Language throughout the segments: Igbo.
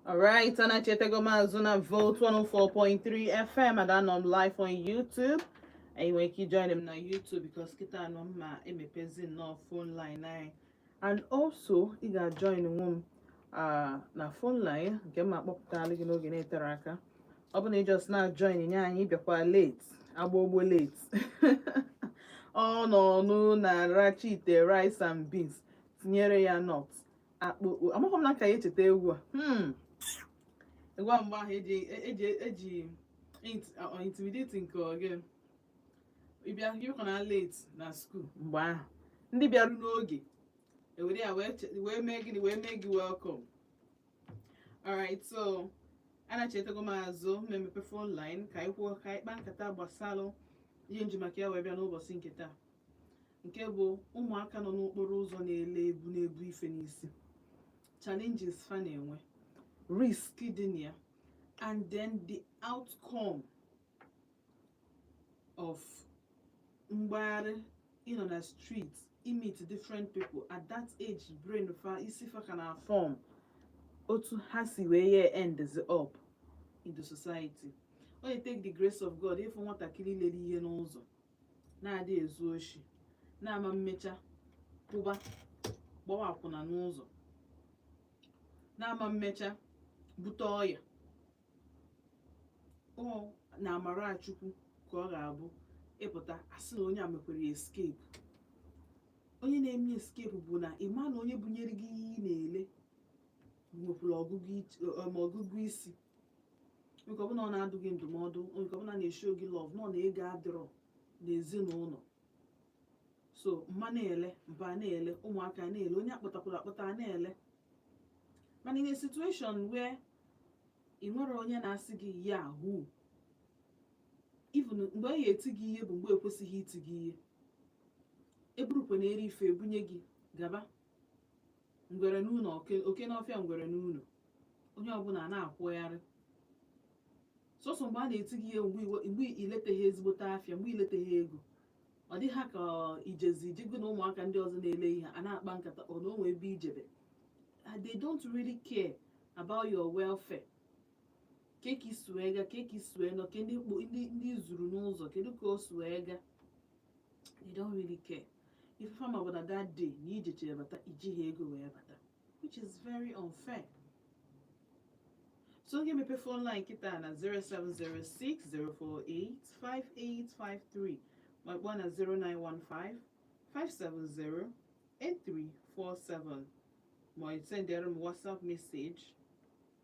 Alright, and I check the Mazuna Vote 104.3 FM and I'm live on YouTube. And you can join them on YouTube because kita no ma emepezi no phone line nine. And also, you can join them uh, na phone line nke ma kpọpụtara gị n'oge na-etere aka ọ bụ na ị just na-join nye anyị bịakwa late agba ogbo late ọ nọ ọnụ na rachi ite rice and beans tinyere ya not akpụ amaghị m na ka ya echeta egwu a hmm. egwu a mgbe ahụ eji eji eji intimidate nke oge ịbịa ịbịakwa na late na school mgbe ahụ ndị bịaru n'oge ewere ya wee mee gịnị wee mee gị welcome alright so anachetago m azụ ma emepe phone line ka anyị kwuo ka anyị kpaa nkata gbasalụ ihe m ji maka ya wee bịa n'ụbọchị nke taa nke bụ ụmụaka nọ n'okporo ụzọ na-ele ebu na-ebu ife n'isi challenges fa na-enwe risk dị na ya and then the outcome of mgbagharị ịnọ na street ịmeet different people at that age brain fa isi fa ka na form otu ha si wee ye ends up in the society ọ na-etake the grace of God ịfụ nwatakịrị lere ihe n'ụzọ na-adị ezu oshi na-ama mmecha pụba gbawa akwụna n'ụzọ na-ama mmecha bute ọya ọ na amara chukwu ka ọ ga-abụ ịpụta asị na onye a mekwere escape onye na-eme escape bụ na ịma na onye bunyere gị ihe ị na-ele nwekwara ọgụgụ ich- ọ- ma ọgụgụ isi nke ọ bụ na ọ na-adụ gị ndụmọdụ nke ọ bụ na ọ na-eshow gị love nọ na ego adịrọ n'ezinụlọ so mma na-ele mpa na-ele ụmụaka na-ele onye akpọtakwara akpọta na-ele mana in a situation where ị nwere onye na-asị gị ya hu even mgbe a ya-eti gị ihe bụ mgbe ekwesighị iti gị ihe eburukwa na eri ife ebunye gị gaba ngwere n'ụlọ oke n'ọfịa ngwere n'ụlọ onye ọbụla na-akwụgharị sọsọ mgbe a na-eti gị ihe mgbe ileteghị ezigbote afịa mgbe ileteghị ego ọ dị ha ka ijezi ijego na ụmụaka ndị ọzọ na-ele ihe a na-akpa nkata ọ na o nwe ebe ijebe Ah, they don't really care about your welfare kee ka i si wee ga kee ka i si wee nọ kee ndị kpo- ndị ndị i zuru n'ụzọ kedu ka o si wee ga they don't really care ife fa ma bụ na that day na ijechere bata ijighị ego wee bata which is very unfair so m ga-emepe phone line kịta na 07060485853 ma kpọọ na 09155708347 ma sendere m whatsapp message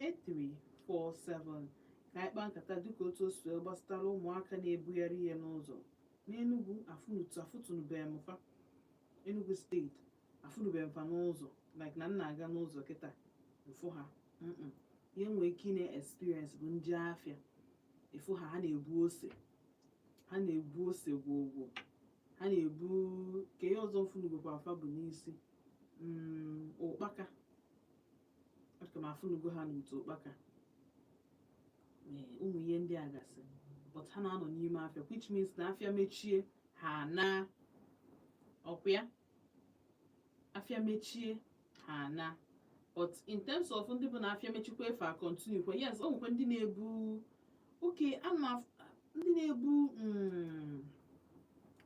8347 ka anyị kpaa nkata dịka otu o si wee gbasatara ụmụaka na-ebugharị ihe n'ụzọ n'enugwu afụnutu afụtụnụbeghị m fa enugwu steeti afụnụbeghị m fa n'ụzọ like na m na-aga n'ụzọ kịta m fụ ha mm ihe nwee ike ị na-experience bụ m je afịa ị fụ ha ha na-ebu ose ha na-ebu ose gwogwo ha na-ebu kee ihe ọzọ m fụnugokwaa fa bu n'isi mm, ụkpaka aka m afụnugo ha n'utu ụkpaka Ee, ụmụ ihe ndị a gasị but ha na-anọ n'ime afịa which means na afịa mechie ha naa ọkwa ya afịa mechie ha naa but in terms of ndị bụ na afịa mechikwa fa a-continue kwa yes o nwekwa ndị na-ebu oke a na ndị na-ebu mm,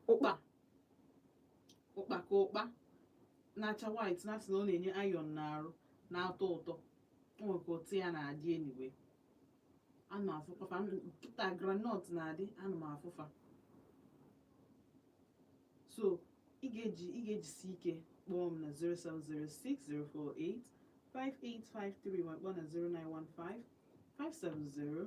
ụkpa ụkpaka ụkpa na-acha white na-asị na ọ na-enye iron n'arụ na-atọ ụtọ o nwere ka ụtọ ya na-adị anyway ana m afụkwa fa kịta groundnut na-adị ana m afụ fa so ị ga-eji ị ga-ejisi ike kpọọ m na 07060485853 ma kpọọ na 0915 570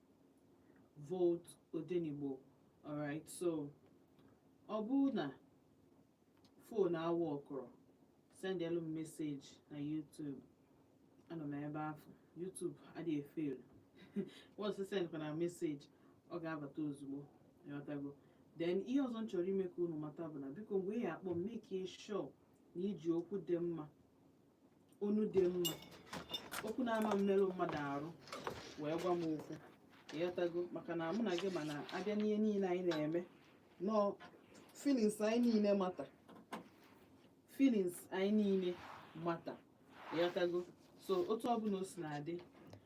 vote odenigbo alright so ọ bụrụ na phone aworkụrọ sendelu m message na youtube anọ m ebe afụ youtube adịghị e-fail once ị sendkwa na message ọ ga-abata ozugbo ịghọtago then ihe ọzọ m chọrọ ime ka unu mata bụ na biko mgbe ị ya-akpọ m make sure na i ji okwu dị mma onu dị mma okwu na-ama mmerụ mmadụ arụ wee gwa m okwu ịghọtago maka na mụ na gị ma na a bịa n'ihe niile anyị na-eme nnọọ feelings anyị niile matter feelings anyị niile matter ịghọtago so otu ọbụla o si na-adị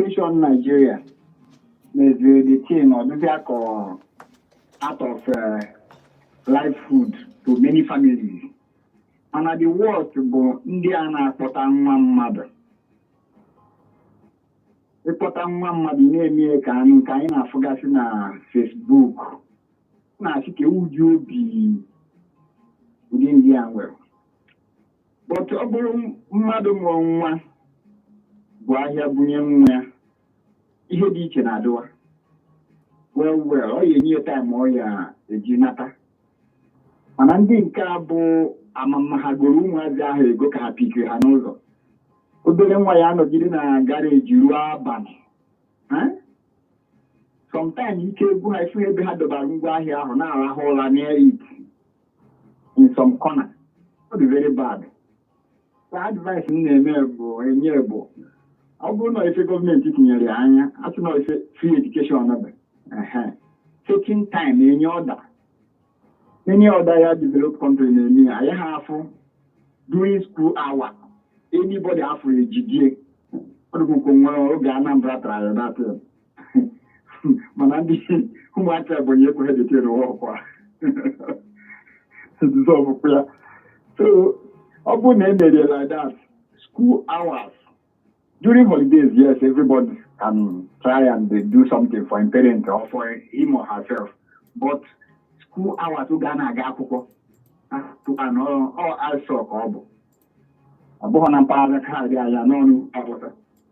Situation Nigeria meziri the thing ọ dịzị ka ọ act of uh, livelihood to many families mana the worst bụ ndị a na-akpọta nwa mmadụ ị kpọta nwa mmadụ na-eme ka anyị nke anyị na-afụgasị na Facebook na-asị kee ụdị obi ụdị ndị a nwere but ọ bụrụ mmadụ mụọ nwa bu ahịa bunye nwa ya ihe dị iche na-adịwa well well ọ ya-enye time ọ ya-eji nata mana ndị nke a bụ ama m ma ha goro ụmụazị ahụ ego ka ha pickiri ha n'ụzọ obere nwa ya-anọgide na garage ruo abalị sometimes ike agwụ ha ị fụ ebe ha dọbara ngwa ahịa ahụ na-arahụ ụra near it in some corner ọ dị very bad so advice m na-eme bụ enye bụ ọ bụrụ na ife gọọmenti tinyere ya anya asị na ife free education bụ taking time any other any other developed country na-eme ya ha afụ during school hour anybody a fụ e jidie ọ dịkwụkwụ nwere oge Anambra try ya mana ndị ụmụaka ebonyi ekweghị detere ọkwa dissolvekwa ya so ọ bụrụ na e mere like that school hours during holidays yes everybody can try and do something for him parent or for him or herself but school hours oge a na-aga akwụkwọ anọ ọ asọ ka ọ bụ ọ bụghị na mpaghara kaadị anya n'ọnụ agbụta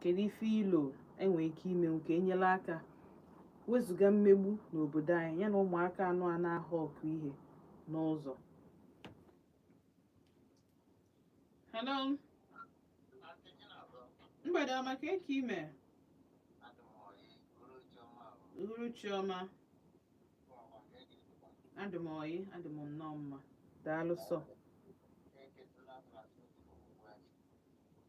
kedu ife i lo e nwere ike ime nke enyela aka wezụga mmegbu n'obodo anyị ya na ụmụaka anwa na-ahawk ihe n'ụzọ hello mgbede ọma kee ka i me uhuruchi ọma adị m oyi adị m nnọọ mma daalụ sọ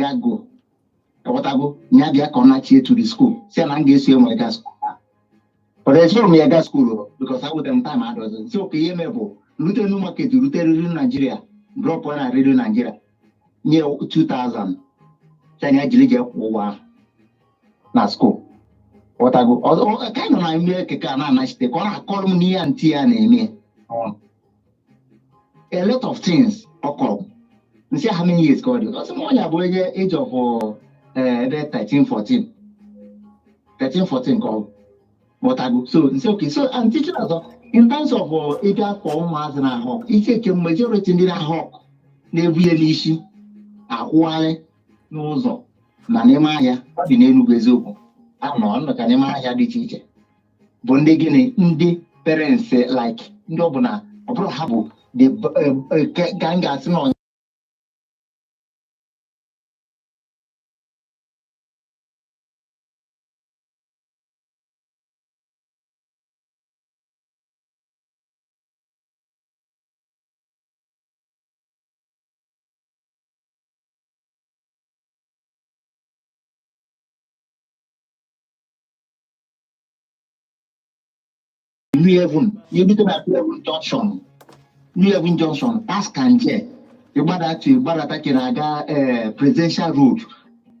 ya go ị ghọtago ya bịa ka ọ nachie to the school sị na m ga-eso ya ga school but esorọ m ya ga school because enwetarọ m time adọzi sị okay ihe m mee bụ rute new market rute Radio Nigeria drop na Radio Nigeria nye ya 2000 sị ya jiri jee kwụọ ụgwọ na school ghọtago ka anọ na ime keke a na-anachite ka ọ na-akọrọ m n'ihe aunty ya na-eme a lot of things ọ kọrọ m sị how many years ka ọ dị ọ sị m na ya bụ onye age of eh, ebe 13 14 13 14 ka ọ bụ ghọtago so m sị okay so and teaching ọzọ in terms of uh, ịbịa akpọ ụmụazị na-ahawk I think majority ndị na-ahawk na-ebu ihe n'ishi akwụgharị n'ụzọ na n'ime ahịa ọ dị n'Enugu eziokwu ha nọcha n'ime ahịa dị iche iche bụ ndị gịnị ndị parents like ndị ọ bụ na ọ bụrọ ha bụ the b- eh, eh, ke- ka m ga-asị na ọnya New Haven, you look at New Haven Junction, New Haven Junction, past Kanje, ị gbadata ị gbadata ka ị na-aga eh, Presidential Road,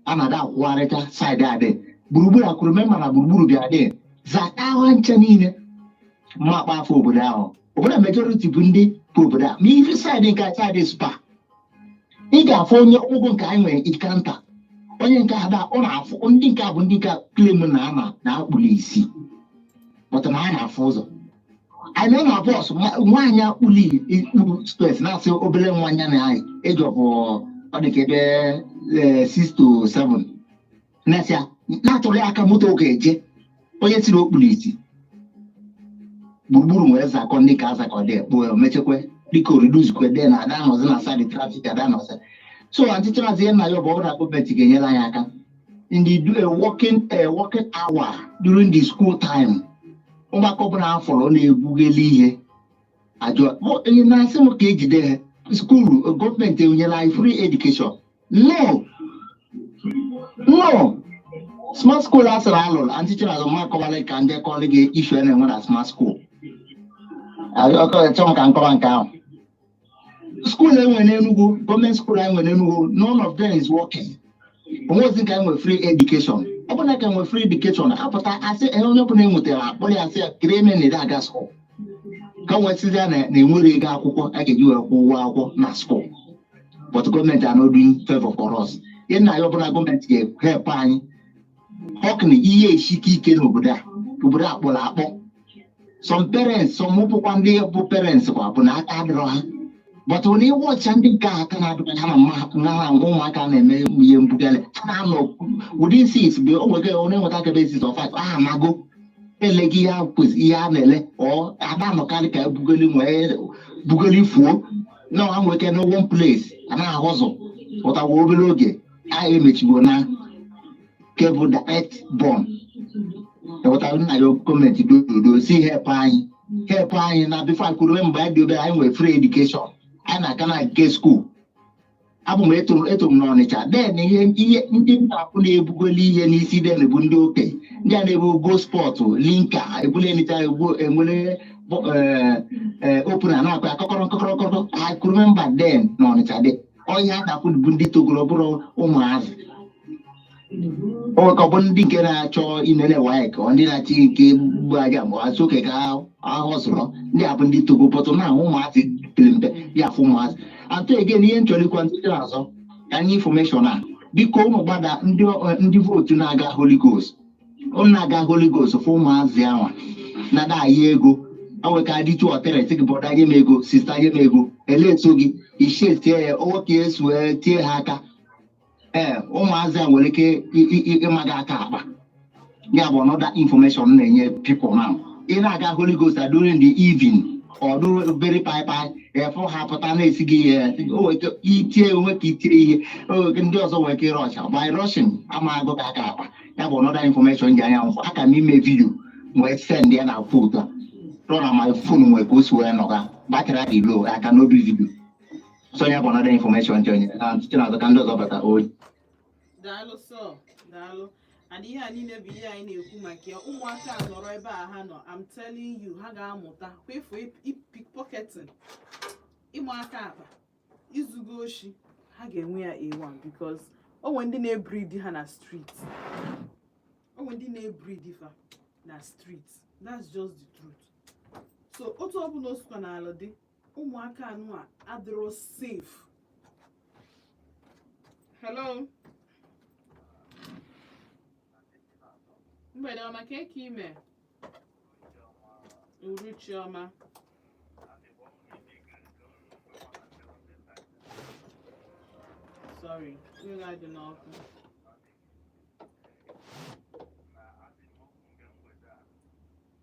a na-adị akwụgharịcha side adị. Gburugburu I could remember na gburugburu bịa dị. Zata ha ncha niile mmakpa afọ obodo ahụ. Obodo majority bụ ndị bụ obodo a. Ma ị fee side nke a side SPAR. ị ga-afụ onye ụgwọ nke anyị nwere ike nta onye nke ada ọ na-afụ ndị nke a bụ ndị nke claim na ama na a kpụrụ isi but na ha na-afụ ụzọ anyị nọ na bọs nwaanyị akpụli ikpuru spes na-asị obere nwaanyị na anyị age of ọ dị ka ebe 6 to 7 mesịa na-atụrụ ya aka moto ga-eje onye si na ọ kpuru isi gburugburu wee zakọ ndị ka azakọ dị ekpo mechekwe dịka o reducekwe dị na ada anọzi na side traffic ada anọzi so ọchịchị maazị ihe na-ayọ bụ ọ bụrụ na gọọmenti ga-enyere anyị aka ndị do a working a working hour during the school time ụmụaka ọbụla a fụrụ na-egwugheli ihe ajọ ihe na-asị m ka e jide ha school gọọmenti enyela anyị free education No. No. Smart school a sịrị a lụrụ and teacher azụ mma akọwala ka ndị kọrọ gị issue a na-enwe na smart school. Achọrọ m ka nkọwa nke ahụ. School enwe n'Enugu, gọọmenti school anyị nwere n'Enugu, none of them is working. Onwe ozi ka enwe free education. Ọ bụrụ na ka enwe free education, apụta asị ihe onye ọbụla enwetara akpọrọ ya asị ya kiri eme na ede aga school. Ka nwesịzịa na enwere ego akwụkwọ a ga-eji wee kwụọ ụgwọ akwụkwọ na school. but gọọmenti are not doing favor for us ihe na-ayọ bụ na gọọmenti ga-help anyị ọkna ihe esike ike n'obodo a obodo a kpọrọ akpọ some parents some ọ bụkwa ndị bụ parents kwa bụ na aka adịrọ ha but when you watch ndị nke a aka na-adịrọ ha na mmaha ngwa ụmụaka na-eme ihe mbugharị ha na-anọ within six bụ o nwere onye nweta ka ebe age of five ha amago ele gị ihe a na-ele ọ ada anọkarị ka ebugoli nwee bugoli fuo na ha nwere ike na one place a na-ahụ ụzọ pụtawa obere oge anyị emechigo na kebụ direct born e wetara na-ayọ gọọmenti dododo si help anyị help anyị na before I could remember mgbe anyị dị obere anyị nwere free education anyị na-aga na gate school abụ m eto eto m n'Ọnịcha then ihe ihe ndị na-akwụ na-ebugoli ihe n'isi then bụ ndị okenye ndị a na-ebu Gold Spot Limca ebule nịcha egbu enwere bọ- eh, eh, opener na-akpa ya kọkọrọ kọkọrọ kọkọrọ I could remember then n'Ọnịcha ndị ọhịa na-akwụ bụ ndị togoro ọ bụrọ ụmụazị ọ bụ ndị nke na-achọ inene waik ọ ndị na-achọ ike mgbu aja ma azụ oke ka ahụ zụrọ ndị a bụ ndị togo pọtụ na ahụ ụmụazị pere mpe ya afụ ụmụazị atọ again ihe m chọrịkwa ndị azọ ka anyị infọmeshọn a biko ụmụ gbada ndị vootu na-aga holy ghost ụnụ na-aga holy ghost fụ ụmụazị anwa nada anyị ego o nwe ka adịtụ ọtere sị gị brọda nye m ego sista nye m ego elee so gị ichie tie ya o nwe ka e si wee tie ha aka ee ụmụazị a nwere ike ịma gị aka akpa ya bụ another information na-enye people now ị na-aga Holy Ghost during the evening ọ dụrụ obere paịpaị ị fụ ha pụta na-esi gị ihe itie onwe ka itie ihe ndị ọzọ nwere ike rọsha by rushing a maa gị aka akpa ya bụ another information ji anya m fụ aka m ime vidio wee send ya na foto rọ na my phone nwere ka o si wee nọga batrị adị low aka n'obi vidio so ya bụ another information nche onye na site n'azụ ka ndị ọzọ bata oyi daalụ sọ daalụ and ihe a niile bụ ihe anyị na-ekwu maka ya ụmụaka a nọrọ ebe a ha nọ I'm telling you ha ga-amụta kwefu pickpocketing ịma aka akpa izugo oshi ha ga-enwe ya A1 because o nwe ndị na-ebridi ha na street o nwe ndị na-ebridi fa na street that's just the truth so otu ọbụla o sikwanara dị ụmụaka anụ a adịrọ safe hello mgbede ọma kee ka ị me uruchi ọma sorry mmiri adị n'ọkụ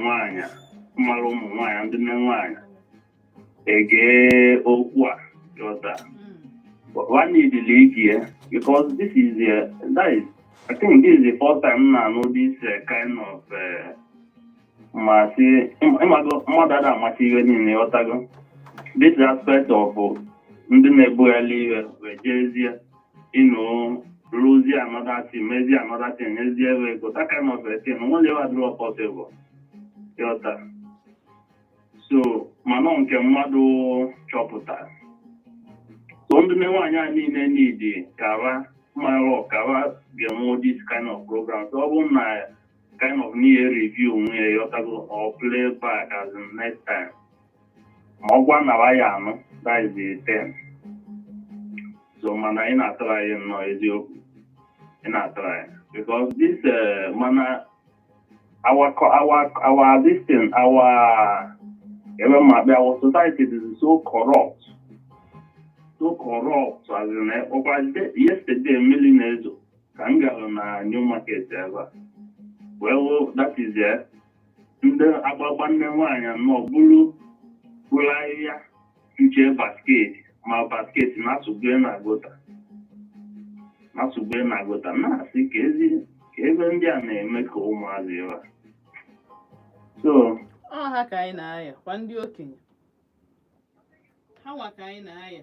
nwaanyị mara ụmụ nwaanyị ndị nne nwaanyị ige okwu a ị ghọta ha niidili ige because this is the that is I think this is the first time m na-anụ this uh, kind of uh, ma si ịmago mmadụ ada amacha ihe niile ị ghọtago this aspect of ndị na-ebugharị ihe wee jezie ịnụ rụzie another thing mezie another thing nyezie ebe ego that kind of a thing o nwere ebe adịrọ possible ị ghọta so mana nke mmadụ chọpụtara so ndị nne nwaanyị a niile niidi kara mara ọkara ga-enwe this kind of program so ọ bụrụ na kind of na-ereview onwe ya ị ghọtago ọ play back as in next time ma ọ gwa nara ya anụ that is the thing so mana ị na-atry nnọọ eziokwu ị na-atry because this uh, mana our co- our our this thing our ebe ma bịa our society is so corrupt so corrupt as in eh, ọkwa de- yesterday mmiri na-ezo ka m gara na new market ebe a wee hụ that is eh ndị agbagba nne nwaanyị anọ buru buru ahịhịa nche basket ma basket na-asụgbe na gota na-asụgbe na gota na-asị kezi ka ebe ndị a na-eme ka ụmụazị ebe a so ọ ha ka anyị na-ayọ kwa ndị okenye ha nwa ka anyị na-ayọ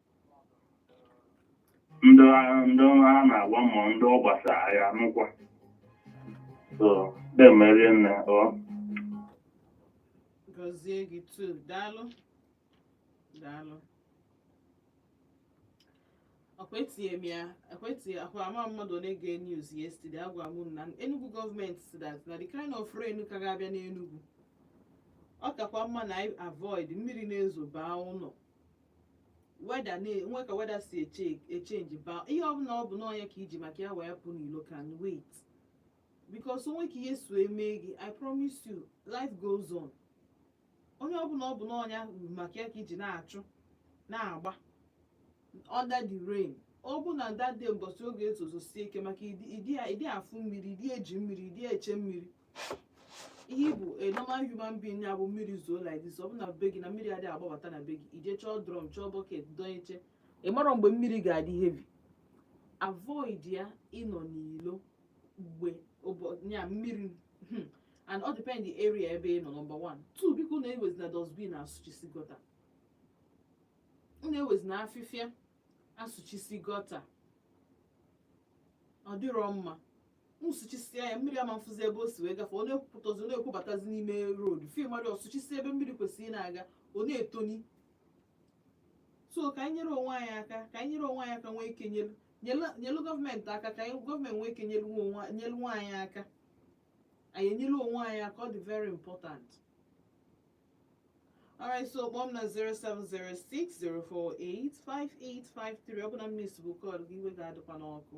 ndị a- ndị a na-agwa ma ndị ọ gbasara ya nụkwa so na-emeri nne ọ gọzie gị too daalụ daalụ akwetighị m ya akwetighị akwa ama mmadụ ole gere news yesterday agwa m unu na enugu gọọmenti sị that na the kind of rain ka ga-abịa n'enugu ọ kakwa mma na anyị avoid mmiri na-ezo baa ụlọ weather na- nwe ka weather si eche- echange baa ihe ọbụla ọ bụ na ọ nya ka i ji maka ya wee pụ n'ilo can wait because o nwe ka ihe so eme gị i promise you life goes on onye ọbụla ọ bụ na ọ nya maka ya ka i ji na-achụ na-agba under the rain ọ bụ na that day mbọsị ọ ga-ezozosi ike maka ị dị ị dị- ị dị afụ mmiri ị dị eji mmiri ị dị eche mmiri ihe bụ a normal human being ya bụ mmiri zoo like this ọ bụ na be gị na mmiri adịghị agbabata na be gị i je chọọ drum chọọ bucket donye chee ị marọ mgbe mmiri ga-adị heavy avoid ya ịnọ n'ilo mgbe ya mmiri hmm, and ọ depend the area ebe ị nọ number one two biko unu ewezina dustbin asụchisi gota unu ewezina afịfịa asụchisi gota ọ dịrọ mma unu sụchisịa ya mmiri ama afụzi ebe o si wee gafe ọ na-ekwopụtazi ọ na-ekwobatazi n'ime road fim mmadụ asụchisi ebe mmiri kwesịrị na-aga ọ na-etoni so ka anyị nyere onwe anyị aka ka anyị nyere onwe anyị aka nwee ike nyelu nyelu- nyelu gọọmenti aka ka anyị gọọmenti nwee ike nyelu nwa onwe- nyelu nwa anyị aka anyị enyelu onwe anyị aka ọ dị very important alright so kpọọ m na 07060485853 ọ bụ na m miss bụ call gị iwe gị adịkwana ọkụ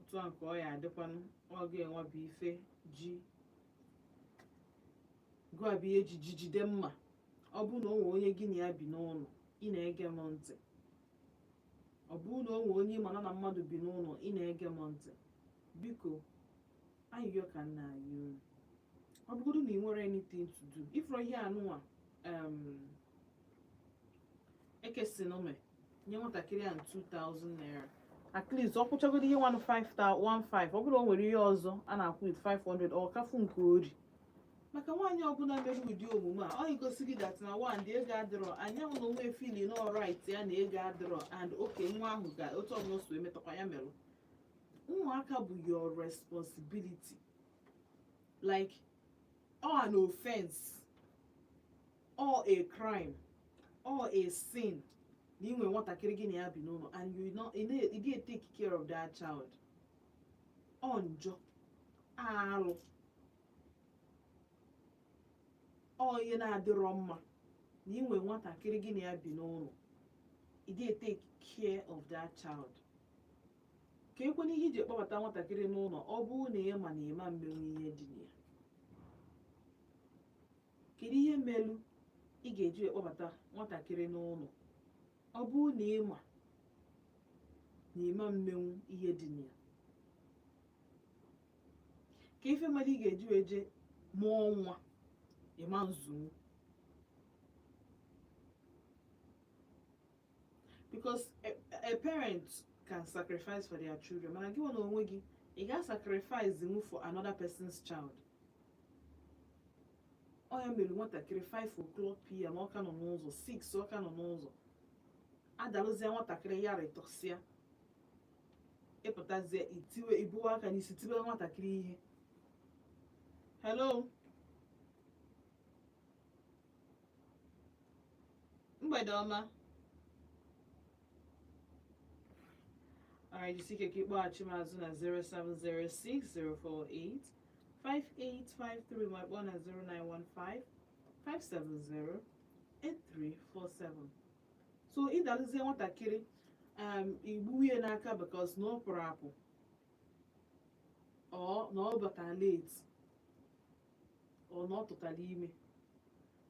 otu a ka ọ ya adịkwanụ ọ ga-enwe bụ ife ji gụọ bụ ihe ji ji jide mma ọ bụrụ na o nwee onye gị na ya bi n'ụlọ ị na-ege m ntị ọ bụrụ na o nwee onye ị ma na na mmadụ bi n'ụlọ ị na-ege m ntị biko ayịyọ ka m na-ayọ unu ọ bụgodu na ị nwere anything to do ị fụrụ ihe anụnwa em ekesi na ome nye nwatakịrị a 2000 naira at least ọ kwụchagoro ihe 1500 ọ bụrụ o nwere ihe ọzọ a na-akwụ with 500 ọ ka fụ nke o ri maka nwaanyị ọbụla mere ụdị omume a ọ egosi gị that na one dị ego adịrọ anyanwụ na onwe feel na ọrit ya na ego adịrọ and oke nwa ahụ ga otu ọbụla o si emetakwa ya merụ ụmụaka bụ your responsibility like ọ an offense ọ a crime ọ a sin na i nwe nwatakịrị gị na ya bi n'ụlọ and you didn't take care of that child ọ njọ alụ ọ ihe na-adịrọ mma na i nwe nwatakịrị gị na ya bi n'ụlọ you didn't take care of that child kekwanụ ihe i ji kpọbata nwatakịrị n'ụlọ ọ bụrụ na ị ma na ị ma mmenwu ihe dị na ya kedu ihe melu ị ga-eji ekpọbata nwatakịrị n'ụlọ ọ bụrụ na ị ma na ị ma mmenwu ihe dị na ya kee ife mere ị ga-eji wee je mụọ nwa ị ma nzụnwu because a, a parent can sacrifice for their children mana gị nwa na onwe gị ị ga-sacrifice nwu for another person's child ọ ya mere nwatakịrị 5 o'clock pm ọ ka nọ n'ụzọ 6 ọ ka nọ n'ụzọ a dalụzie nwatakịrị ya ratọsịa ị pụtazie i tiwe i buwe aka n'isi tibe nwatakịrị ihe hello mgbede ọma Alright, jisi ike ka ị kpọghachi m azụ na 0706048 5853 ma kpọọ na 0915 570 8347 so ị dalụzie nwatakịrị um, i gbuwe ya n'aka because na ọ pụrụ apụ or na ọ bata late ọ na ọ tụtara ime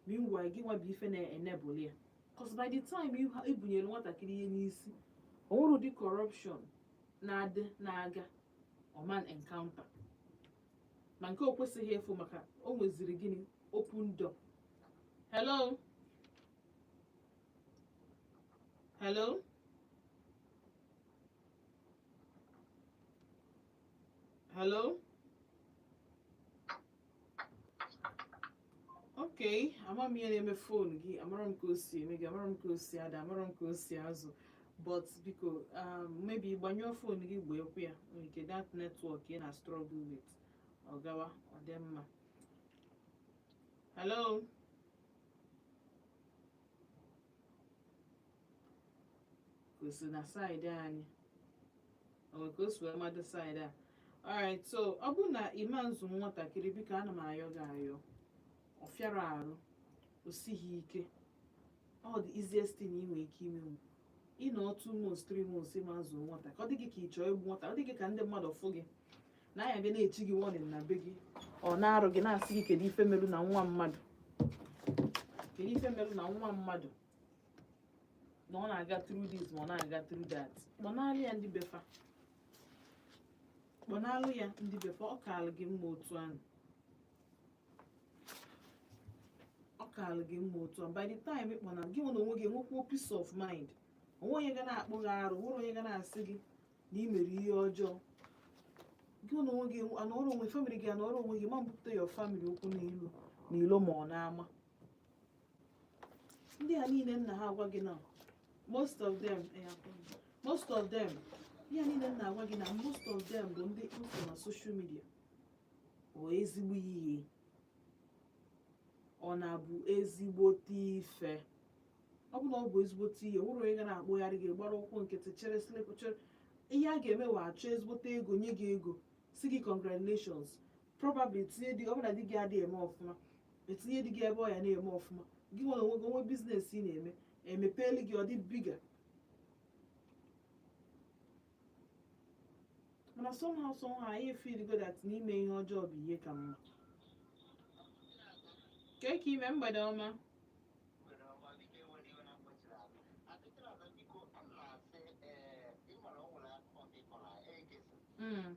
meanwhile gị nwa bụ ife na-enable ya cause by the time ibunyere nwatakịrị ihe n'isi o nwere ụdị corruption na-adị na-aga ọ ma na-encounter ma nke o kwesịghị ịfụ maka o nweziri gịnị open door hello hello hello ok ama m ihe na-eme fon gị amarọ m ka o si eme gị amarọ m ka o si ada amarọ m ka o si azụ but biko um, maybe gbanyụọ fon gị gbanyekwa ya nwere ike that network ị na struggle with ọ gawa ọ dị mma hello ka o si na side anyị o nwere ka o si wee mado side a alright so ọ bụrụ na ị ma-azụ nwatakịrị biko ana m ayọ gị ayọ ọ fịarọ arụ o sighi ike ọ the easiest thing ị nwere ike imenwu ịnọ two months three months ị ma-azụ nwata ka ọ dị gị ka ị chọọ igbu nwata ọ dị gị ka ndị mmadụ fụ gị na anya bịa na-echi gị warning na be gị ọ na-arụ gị na-asị gị kedu ife merụ na nwa mmadụ kedu ife merụ na nwa mmadụ na ọ na-aga through this ma ọ na-aga through that kpọnalụ ya ndị be fa kpọnalụ ya ndị be fa ọ kaala gị mma otu ahụ ọ kaala gị mma otu ahụ by the time ị kpọnalụ gị nwa na onwe gị enwekwuo peace of mind o nwe onye ga na-akpụ gị arụ nwere onye ga na-asị gị na ị mere ihe ọjọọ gị na onwe gị anọrọ onwe family gị anọrọ onwe gị ma mbupụta your family okwu n'ilu n'ilo ma ọ na-ama ndị a niile m na-agwa gị na most of them eh, most of them ndị a niile m na-agwa gị na most of them bụ ndị m fụ na social media ọ ezigbo ihe ọ na-abụ ezigbote ife ọ bụ na ọ bụ ezigbote ihe o nwerọ onye ga na-akpụgharị gị gbara ụkwụ nkịtị chere slip chere ihe a ga-eme wa achọ ezigbote ego nye gị ego sị gị congratulations probably tinye di ọ bụrụ na di gị adịghị eme ọfụma etinye di gị ebe ọ ya na-eme ọfụma gị nwere onwe gị o nwe business ị na-eme emepeeli gị ọ dị bigger mana somehow somehow anyị feeligo that na ime ihe ọjọọ bụ ihe ka mma kee ka i me mgbede ọma Mm.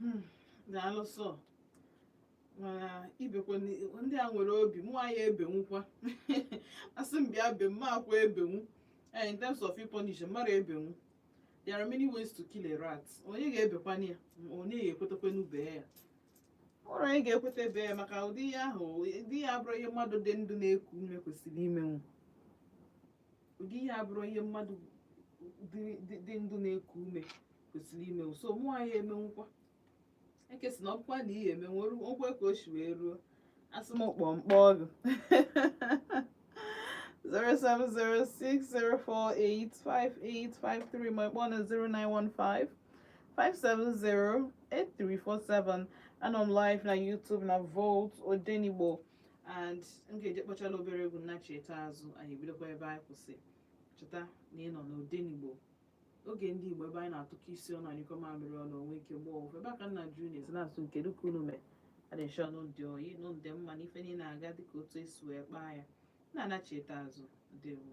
Hmm, daalụ sọ mana ibekwe ndị a nwere obi mụ anyị ebenwukwa asị m bịa be m akwa ebenwu Eh, in terms of punish mmadụ ebenwu there are many ways to kill a rat onye ga-ebekwana ya onye ga-ekwetekwanụ bee ya ọrụ onye ga-ekwete bee ya maka ụdị ihe ahụ ụdị ihe abụrụ ihe mmadụ dị ndụ na-eku ume kwesịrị imenwu ụdị ihe abụrụ ihe mmadụ dị ndụ na-eku ume kwesịrị imenwu so mụ anyị emenwukwa ekesi na ọ bụkwa na ihe emenwu okwe ka o si wee ruo asị m kpọọ mkpọ ọgụ 07060485853 ma ị kpọọ na 0915 5708347 anọ m live na YouTube na Volt Odenigbo and m ga-eje kpọchala obere egwu m nachite azụ anyị bidokwa ebe anyị kwụsị cheta na ị nọ n'Odenigbo oge ndị Igbo ebe anyị na-atụkọ isi ọnụ a nyụkọ mamịrị ọnụ o nwee ike gbaa ọfụfụ ebe aka nna juu na-esi na-asị kedu ka unu mee adị m sure unu dị oyi unu dị mma na ife niile na-aga dịka otu esi wee kpaa ya na-anachite azụ ndewo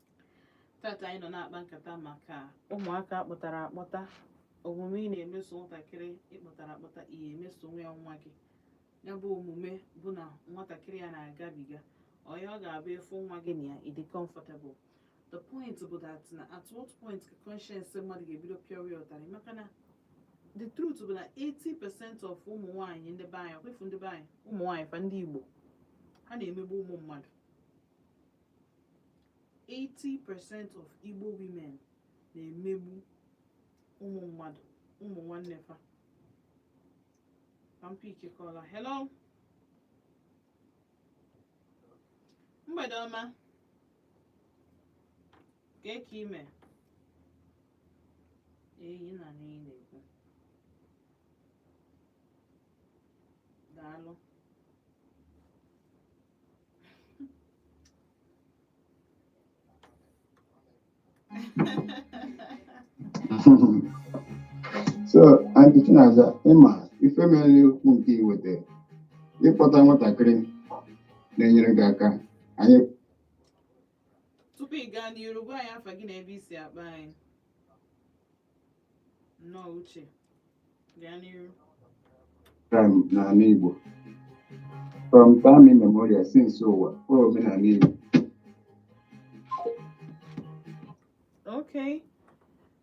tata anyị nọ na-akpa nkata maka ụmụaka a kpọtara akpọta omume ị na-emeso nwatakịrị ị kpọtara akpọta ị ya-emesonwu ya nwa gị ya bụ omume bụ na nwatakịrị ya na-agabiga ọ ya ọ ga-abụ efu nwa gị na ya ịdị comfortable the point bụ that na at what point ka conscience mmadụ ga-ebido pịọwa ya ụtarị maka na the truth bụ na 80% of ụmụ nwaanyị ndị be anyị ọkwefu ndị be anyị ụmụ nwaanyị fa ndị Igbo ha na-emegbu ụmụ mmadụ 80% of Igbo women na-emegbu ụmụ mmadụ ụmụ nwanne fa ka m pickie caller hello mgbede ọma kee ka ị mee eyi na anyị na-ekwu daalụ so Aunty Chinaza ị ma ife mere okwu nke iweta ịkpọta nwatakịrị na-enyere gị aka anyị tupu ị gaa n'iru gwa anyị afa gị na ebe i si akpọ anyị nnọọ uche gaa n'iru um, n'ala Igbo from time immemorial since ụwa o omenala Igbo okay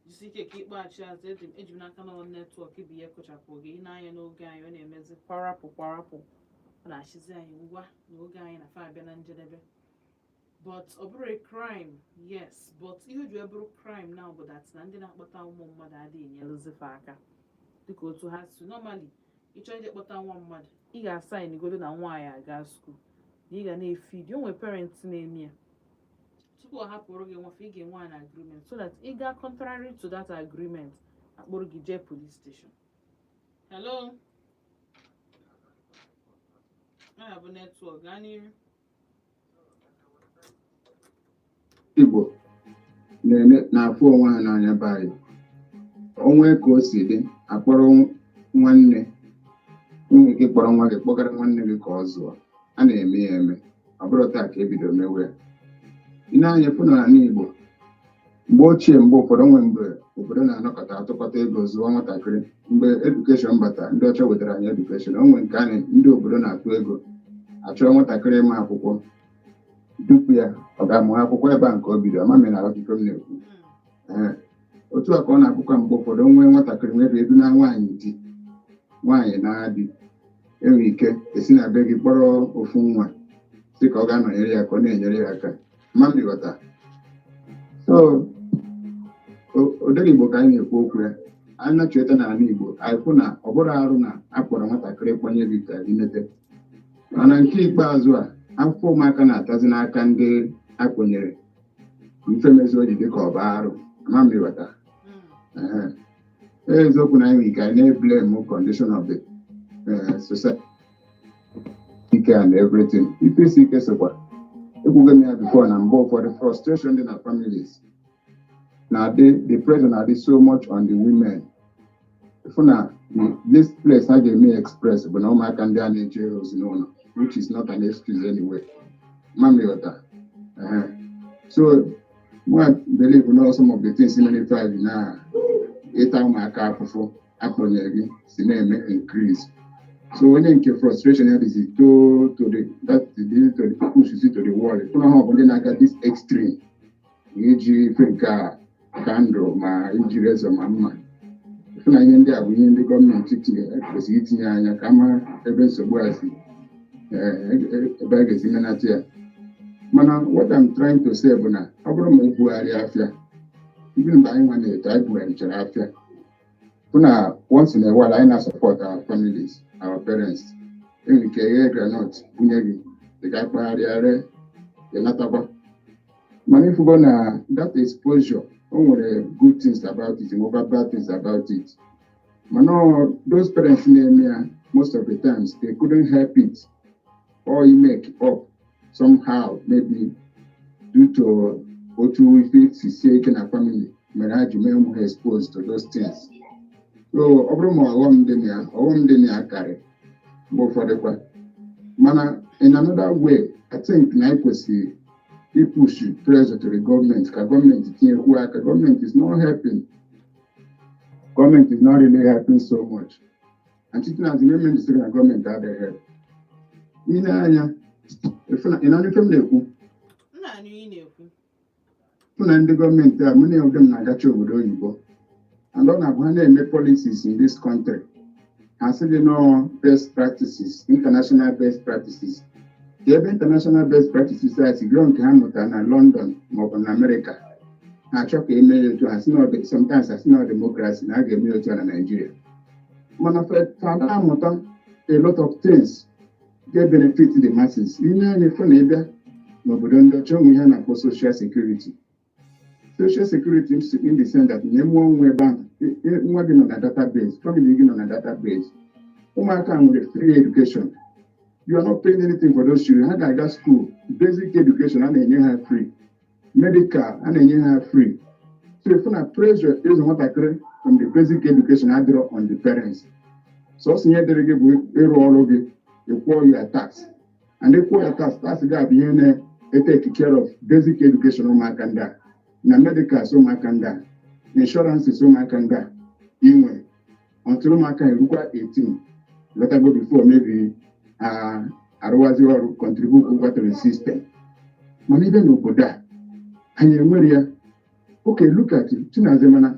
jisi ike ka ịkpọghachi azụ eji eji m n'aka na ọ netwọk bụ ihe kụchapụ gị ị nee anya n'oge anyị ọ na-emezi kwarapụ kwarapụ ọ na-achụzi anyị ngwa na oge anyị na fa abịa na njedebe but ọ bụrọ a crime yes but ihe o ji wee bụrụ crime now bụ that na ndị na-akpọta ụmụ mmadụ adịghị enyelụzi fa aka dịka otu ha si normally ịchọ ije kpọta nwa mmadụ ị ga-asaịn godo na nwa ya aga skuul na ị ga na-efidi o nwere parents na-eme ya tupu ọ hapụrụ gị nwa fa ị ga-enwe an agreement so that ị gaa contrary to that agreement akpụrụ gị jee police station hello ya bụ netwọk gaa n'iru Igbo na-afụ onwe ha n'anya be anyị o nwee ka o si dị akpọrọ nwanne nwere ike kpọrọ nwa gị kpọgara nwanne gị ka ọ zụọ a na-eme ya eme ọ bụrọ taa ka ebido mewe ya ị nee anya fụ n'ala Igbo mgbe ochie mgbe ụfọdụ o nwe mgbe obodo na-anọkọta atụkọta ego zụọ nwatakịrị mgbe edukeshọn bata ndị ọcha wetara anyị edukeshọn o nwere nke a ndị obodo na-atụ ego achọrọ nwatakịrị ma akwụkwọ dupu ya ọ gaa mụọ akwụkwọ ebe a ka o bido ama m ịghọta ihe m na-ekwu Ee, otu a ka ọ na-abụkwa mgbe ụfọdụ o nwee nwatakịrị nwebe edu na nwaanyị di nwaanyị na-adị e nwe ike esi na be gị kpọrọ ofu nwa sị ka ọ gaa nọnyere ya ka ọ na-enyere ya aka so odere igbo ka anyị na-ekwu okwu ya anyị na-achọta n'ala igbo anyị kwu na ọ bụrọ arụ na a kpọrọ nwatakịrị kpọnye gị ka i mete mana nke ikpeazụ a afụfụ ụmụaka na-atazi n'aka ndị akpọnyere ụmụ fa mezi o ji dịka ọ bụ arụ ama m ịghọta hmm. eziokwu na anyị nwere ike anyị na-eblem condition of the eh, society ike and everything ife isi ike sokwa ekwugo m ya before na mgbe ụfọdụ frustration dị na families na the pressure na-adị so much on the women ị fụ na this place ha ga-eme express bụ na ụmụaka ndị a na-eje ozi n'ụlọ which is not an excuse anyway ama m ịghọta Ehe. so mụwa believe na some of the things na-efe anyị na ịta ụmụaka afụfụ akpọnyere gị si na-eme increase so onye nke frustration ya dịzi to to the that the to the push si to the wall you know ha bụ ndị na-aga this extreme iji ife nke a candle ma iji razor ma mma ị fụ na ihe ndị a bụ ihe ndị gọọmenti tinyere kwesịrị itinye anya ka a mara ebe nsogbu a si eh, e- ebe a ga-esi menata ya mana what I'm trying to say bụ na ọ bụrụ ma ibugharị afịa even mgbe anyị nwa na-eto anyị bugharịchara afịa bụ na once in a while anyị na-asupport our families our parents e nwere ike e ghee groundnut bunye gị ị ga kpagharịa ree ị natakwa mana ị fụgo na that exposure o nwere good things about it nwekwa bad things about it mana those parents na-eme ya most of the times they couldn't help it or you make up somehow maybe due to otu ife si sie ike na family mere ha ji mee ụmụ ha exposed to those things so ọ bụrụ ma ọghọm dị na ya ọghọm dị na ya karị mgbe ụfọdụ kwa mana in another way I think na e kwesịrị ipush pressure to the government ka gọọmenti tinyekwu aka government is not helping government is not really helping so much achịtinazi na emeji sịrị na gọọmenti adịghị ị nee anya ị nee anya ife m na-ekwu ị fụ na ndị gọọmenti a many of them na-agacha obodo oyibo and ọ na-abụ ha na-eme policies in this country ha sị gị na ọ best practices international best practices kee ebe international best practices a si nke ha mụtara na London maọbụ na Amerịka na-achọ ka e mee ya otu a sometimes ha sị na democracy na a ga-eme otu a na Naịjirịa mana fa ada amụta a lot of things ga-ebenefit the masses ị nee anya ị fụ na ị bịa n'obodo ndị ọcha o nwee ihe a na-akpọ social security social security in the sense that na ị mụọ nwa ebe ahụ e- e- nwa gị nọ na database family gị nọ na database ụmụaka nwere free education you are not paying anything for those children ha ga-aga school basic education a na-enye ha free medical a na-enye ha free so ị fụ na pressure ịzụ nwatakịrị from the basic education adịrọ on the parents so ọ sọ ihe dịrị gị bụ ịrụ ọrụ gị ị kwụọ your tax and ị kwụọ your tax tax ga-abụ ihe na-etake care of basic education ụmụaka ndị a na medicals ụmụaka ndị a na insurances ụmụaka ndị a inwe until ụmụaka erukwa 18 lọtago before maybe arụwazi ọrụ contributekwa to the system mana ị bịa n'obodo a anyị enwerọ ya okay look at it Chinaza mana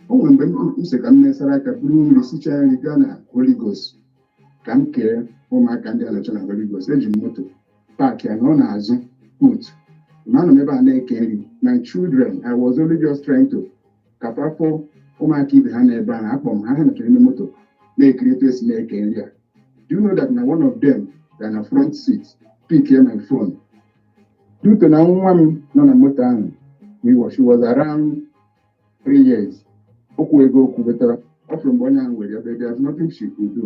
o nwere mgbe m sị ka m mesara aka buru mmiri sicha nri gaa na Holy Ghost ka m kee ụmụaka ndị a nọ na Holy Ghost eji m moto park ya nọ n'azụ boot ma anọ m ebe a na-eke nri my children I was only just trying to ka fa fụ ụmụaka ibe ha n'ebe ahụ akpọ m ha ha nọchara ime moto na-ekiri etu esi na-eke nri a do you know that na one of them ga na front seat pickie my phone due to na nwa m nọ na moto ahụ we was she was around three years o kwuwego okwu but ọ fụrụ mgbe onye ahụ were ya but there's nothing she could do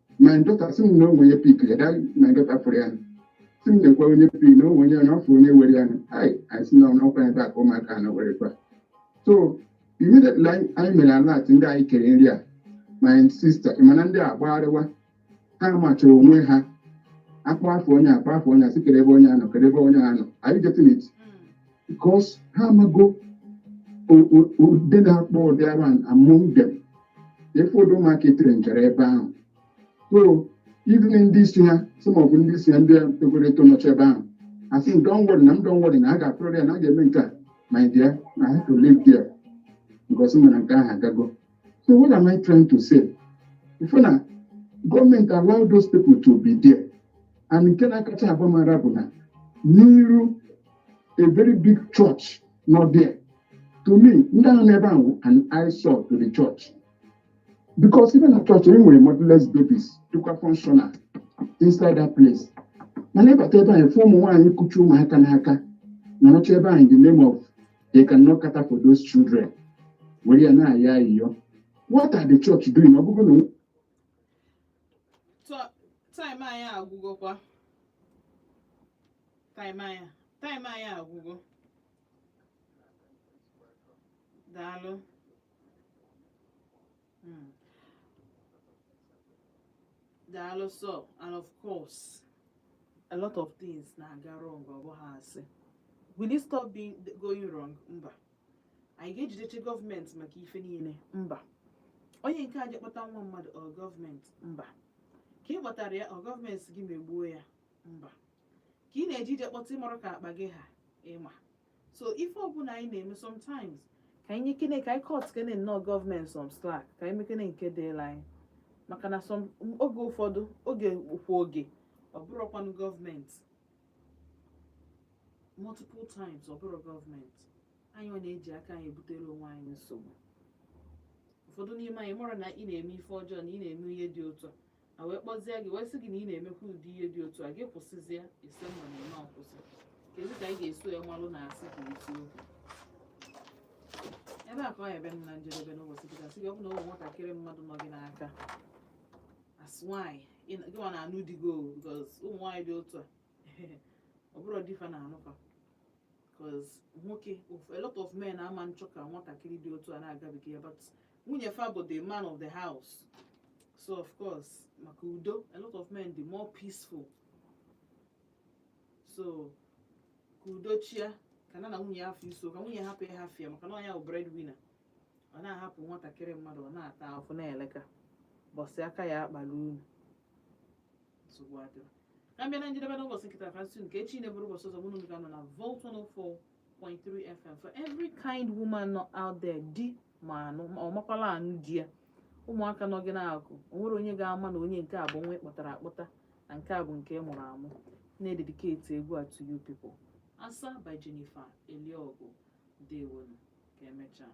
my daughter sị m na o nwe onye pick ya daa my daughter fụrụ ya sị m na o nwe onye pick na o nwe onye na ọ fụ onye were ya ai anyị si na ọ nọkwa ebe a ka ụmụaka na were kwa so immediately anyị mere alert ndị anyị kere nri a my sister mana ndị a gbagharịwa ha machara onwe ha a kpọọ afa onye a kpọọ afa onye a sị kere ebe onye a nọ kere ebe onye a nọ are you getting it because ha amago ndị na-akpa ụdị agwa a among them ị fụ ụdị ụmụaka e trainiri n'ebe ahụ so even ndị isi ha some of ndị isi ha ndị togoro eto nọcha ebe ahụ a sị m don't worry na m don't worry na a ga-atụrụ ya na a ga-eme nke a my dear I have to leave there because m ma na nke ahụ agago so what am I trying to say even na gọọmenti allow those people to be there and nke na-akacha agba m ara bụ na n'iru a very big church nọ there to me ndị a nọ ebe ahụ an eyesore to the church because even na church e nwere motherless babies dịkwa functional inside that place mana ị bata ebe ahụ ị fụ ụmụ nwaanyị kuchi ụmụaka n'aka nọrọcha ebe ahụ in the name of they cannot cater for those children were ya na-ayọ ayịyọ what are the church doing ọ bụrụ na time anyị agwụgokwa time anyị time anyị agwụgo daalụ Mm. daalụ so and of course a lot of things na-aga wrong ọ bụghị asị will it stop going wrong mba anyị ga-ejidecha gọọmenti maka ife niile mba onye nke a je kpọta nwa mmadụ ọ gọọmenti mba ka ị kpọtara ya ọ gọọmenti gị megbuo ya mba ka ị na-eje ije kpọta ị marọ ka akpa gị ha ị ma so ife ọbụla anyị na-eme sometimes ka anyị nyekene ka anyị cutkene nnọọ gọọmenti some slack ka anyị mekene nke dịịlị anyị maka na some oge ụfọdụ oge kwa oge ọ bụrọkwanụ gọọmenti multiple times ọ bụrọ gọọmenti anyị na-eji aka anyị ebutere onwe anyị nsogbu ụfọdụ n'ime anyị marụ na ị na-eme ife ọjọọ na ị na-eme ihe dị otu a a wee kpọzie gị wee sị gị na ị na-emekwa ụdị ihe dị otu a gị kwụsịzie ị sị mba na ị ma akwụsị kedu ka ị ga-eso ya malụ na asị ka isi okwu ebe a ka ọ ebe m na njedebe n'ụbọchị kịta sị gị ọ bụ na ụmụ nwatakịrị mmadụ nọ gị n'aka as nwaanyị ị na- gị nwa na-anụ di gị o because ụmụ nwaanyị dị otu a ọ bụrọ di fa na-anụ fa because nwoke a lot of men ama achọ ka nwatakịrị dị otu a na-agabiga ya but nwunye fa bụ the man of the house so of course maka udo a lot of men dị more peaceful so ka udo chịa ka ya na nwunye ya afọ iso ka nwunye hapụ ya hafịa maka na ọ ya bụ bread winner ọ na-ahapụ nwatakịrị mmadụ ọ na-ata afụfụ na-ele ka ụbọsị aka ya akpali unu nsogbu adịrọ ka m bịa na njedebe n'ụbọchị nke taa ka m sị nke echi na-abụrụ ụbọchị ọzọ mụ na unu ga-anọ na Volt 104.3 FM for every kind woman nọ out there di ma anụ ma ọ makwala anụ di ya ụmụaka nọ gị n'aka o nwerọ onye ga-ama na onye nke a bụ nwa ị kpọtara akpọta na nke a bụ nke ị mụrụ amụ na-ededicate egwu a to you people asa by Jennifer Eliogu dewonu ka emechaa